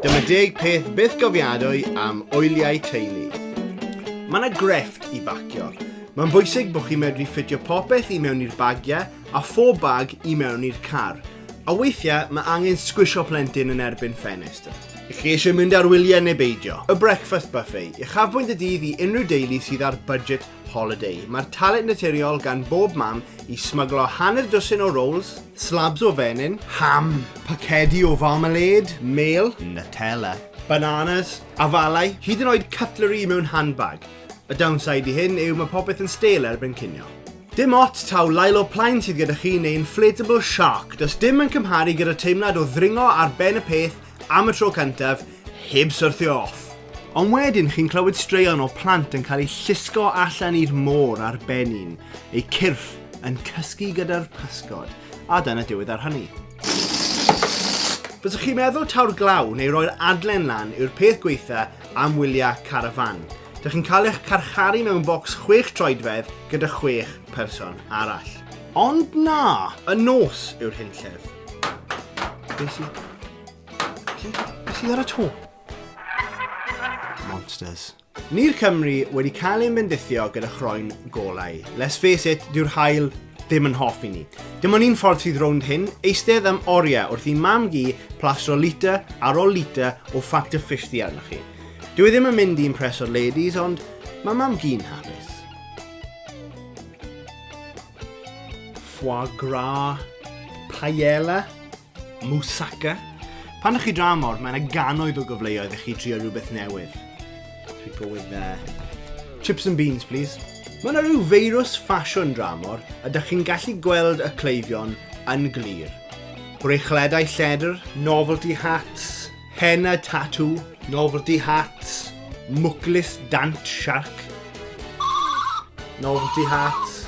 Dyma deg peth byth gofiadwy am oiliau teulu. Mae yna grefft i bacio. Mae'n bwysig bod chi'n medru ffitio popeth i mewn i'r bagiau a phob bag i mewn i'r car. A weithiau mae angen sgwisio plentyn yn erbyn ffenest. I chi eisiau mynd ar wyliau neu beidio? Y Breakfast Buffet, uchafbwynt y dydd i unrhyw deulu sydd ar budget Holiday. Mae'r talent naturiol gan bob mam i smyglo hanner dwsin o rolls, slabs o fenyn, ham, pacedi o farmalêd, mêl, Nutella, bananas, afalau, hyd yn oed cutlery mewn handbag. Y downside i hyn yw mae popeth yn stêl erbyn cinio. Dim ots taw Lilo Plaen sydd gyda chi neu inflatable shark, does dim yn cymharu gyda teimlad o ddringo ar ben y peth am y tro cyntaf, heb syrthio off. Ond wedyn chi'n clywed straeon o plant yn cael eu llusgo allan i'r môr ar ben un, eu cyrff yn cysgu gyda'r pysgod, a dyna diwedd ar hynny. Fyddwch chi'n meddwl taw'r glaw neu roi'r adlen lan yw'r peth gweitha am wyliau carafan. Dych chi'n cael eich carcharu mewn bocs chwech troedfedd gyda chwech person arall. Ond na, y nos yw'r hunllef. Be si... Be si ar y to? Monsters. Ni'r Cymru wedi cael ein bendithio gyda chroen golau. Let's face it, dyw'r hael ddim yn hoff i ni. Dim ond un ffordd sydd rownd hyn, eistedd am oriau wrth i mam gi plasro liter ar ôl liter o Factor 50 arnoch chi. Dwi e ddim yn mynd i impreso'r ladies, ond mae mam gi'n hapus. foie gras, paella, moussaka. Pan ydych chi dramor, mae yna ganoedd o gyfleoedd i chi trio rhywbeth newydd. If we go with there. Uh, chips and beans, please. Mae yna rhyw feirws ffasiwn dramor a dych chi'n gallu gweld y cleifion yn glir. Brechledau lledr, novelty hats, Henna tatŵ, novelty hats, mwclis dant siarc, novelty hats,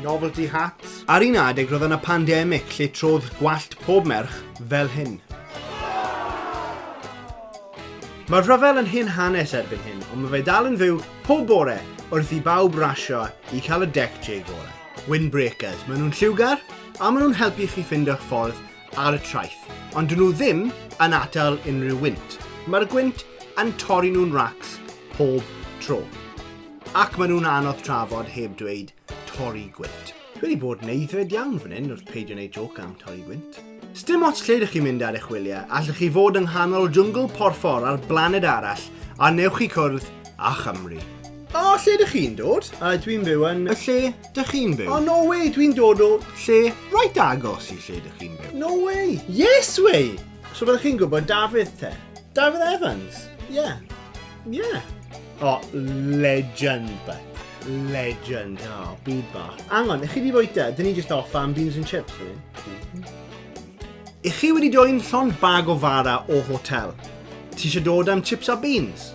novelty hats. Ar un adeg roedd yna pandemig lle trodd gwallt pob merch fel hyn. Mae'r rhyfel yn hen hanes erbyn hyn, ond mae fe dal yn fyw pob bore wrth i bawb rasio i cael y deck J gorau. Windbreakers. Maen nhw'n lliwgar a maen nhw'n helpu chi ffeindio'ch ffordd ar y traeth, ond dyn nhw ddim yn atal unrhyw wynt. Mae'r gwynt yn torri nhw'n racs pob tro. Ac maen nhw'n anodd trafod heb dweud torri gwynt. Dwi wedi bod yn eiddfed iawn fan hyn wrth peidio wneud joc am torri gwynt. Sdim ots lle ydych chi'n mynd ar eich wyliau, allwch chi fod yng nghanol jwngl porffor ar blaned arall a newch chi cwrdd â Chymru. O, lle ydych chi'n dod? A dwi'n byw yn... Y lle Dych chi'n byw? Oh, no way, dwi'n dod o... Lle right agos i lle dych chi'n byw. No way! Yes way! So byddwch chi'n gwybod Dafydd te? Dafydd Evans? Yeah. Yeah. Oh, legend, but. Legend. Oh, byd bach. Angon, ych chi wedi bwyta? Dyn ni just off am beans and chips, really. Mm -hmm. I chi wedi dod i'n llond bag o fara o hotel? Ti eisiau dod am chips a beans?